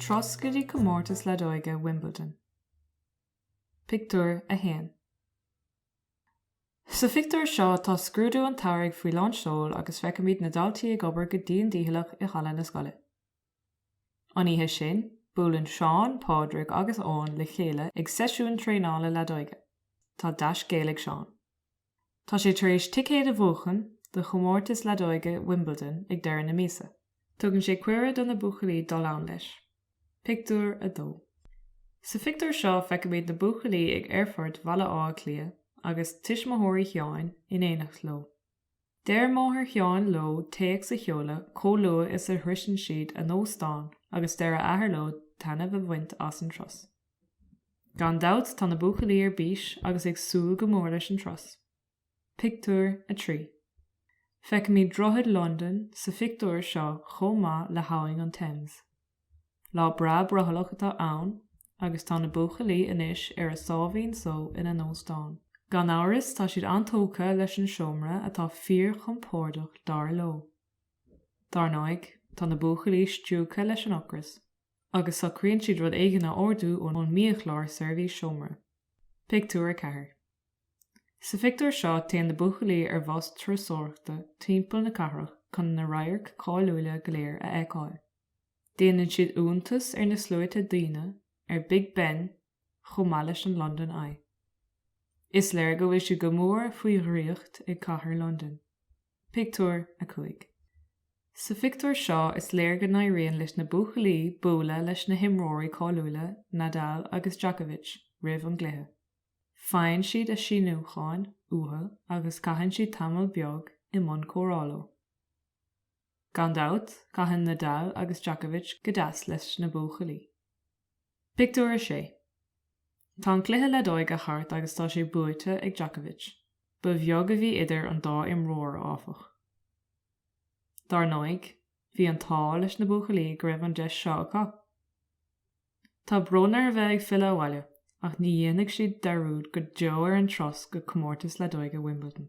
Turas go dtí comórtas leadóige Wimbledon. Pictiúr 1 Sa phictiúr seo tá scrúdú an tsamhraidh faoi lán seoil agus feicimid na daltaí ag obair go dian dícheallach i halla na scoile. An oíche sin, buaileann Seán, Pádraig agus Eoin le chéile ag seisiún traenála leadóige. Tá dea-scéal ag Seán. Tá sé tar éis ticéad a bhuachan do chomórtas leadóige Wimbledon ag deireadh na míosa. Tugann sé cuireadh do na buachaillí dul ann leis. Pictiúr 2 Sa phictiúr seo feicimid na buachaillí ag aerfort Bhaile Átha Cliath, agus tuismitheoirí Sheáin in éineacht leo. Deir máthair Sheáin leo téacs a sheoladh chomh luath is a shroiseann siad a n-óstán agus deir a athair leo taitneamh a bhaint as an turas. Gan dabht tá na buachaillí ar bís agus ag súil go mór leis an turas. Pictiúr 3 Feicimid Droichead Londain sa phictiúr seo chomh maith le hAbhainn an Thames. Lá breá brothallach atá ann agus tá na buachaillí anois ar a sáimhín só ina n-óstán. Gan amhras tá siad an-tógtha leis an seomra atá fíorchompordach dar leo. Dar ndóigh, tá na buachaillí stiúgtha leis an ocras agus socraíonn siad rud éigin a ordú ón mbiachlár seirbhís seomra. Pictiúr 4. Sa phictiúr seo téann na buachaillí ar bhus turasóireachta timpeall na cathrach chun na radhairc cáiliúla go léir a fheiceáil. Déanann siad iontas ar na sluaite daoine, ar Big Ben chomh maith leis an London Eye. Is léir go bhfuil siad go mór faoi dhraíocht ag cathair Londain. Pictiúr 5. Sa phictiúr seo is léir go n-éiríonn leis na buachaillí bualadh leis na himreoirí cáiliúla Nadal agus Djokovic roimh an gcluiche. Faigheann siad a síniúcháin uathu agus caitheann siad tamall beag i mbun comhrá leo. Gan dabht, caitheann Nadal agus Djokovic go deas leis na buachaillí. Pictiúr 6 Tá an cluiche leadóige thart agus tá sé buaite ag Djokovic. Ba bheag a bhí idir an dá imreoir, áfach. Dar ndóigh, bhí an t-ádh leis na buachaillí go raibh an deis seo acu. Tá brón orthu a bheith ag filleadh abhaile, ach ní dhéanfaidh siad dearúd go deo ar an turas go comórtas leadóige Wimbledon.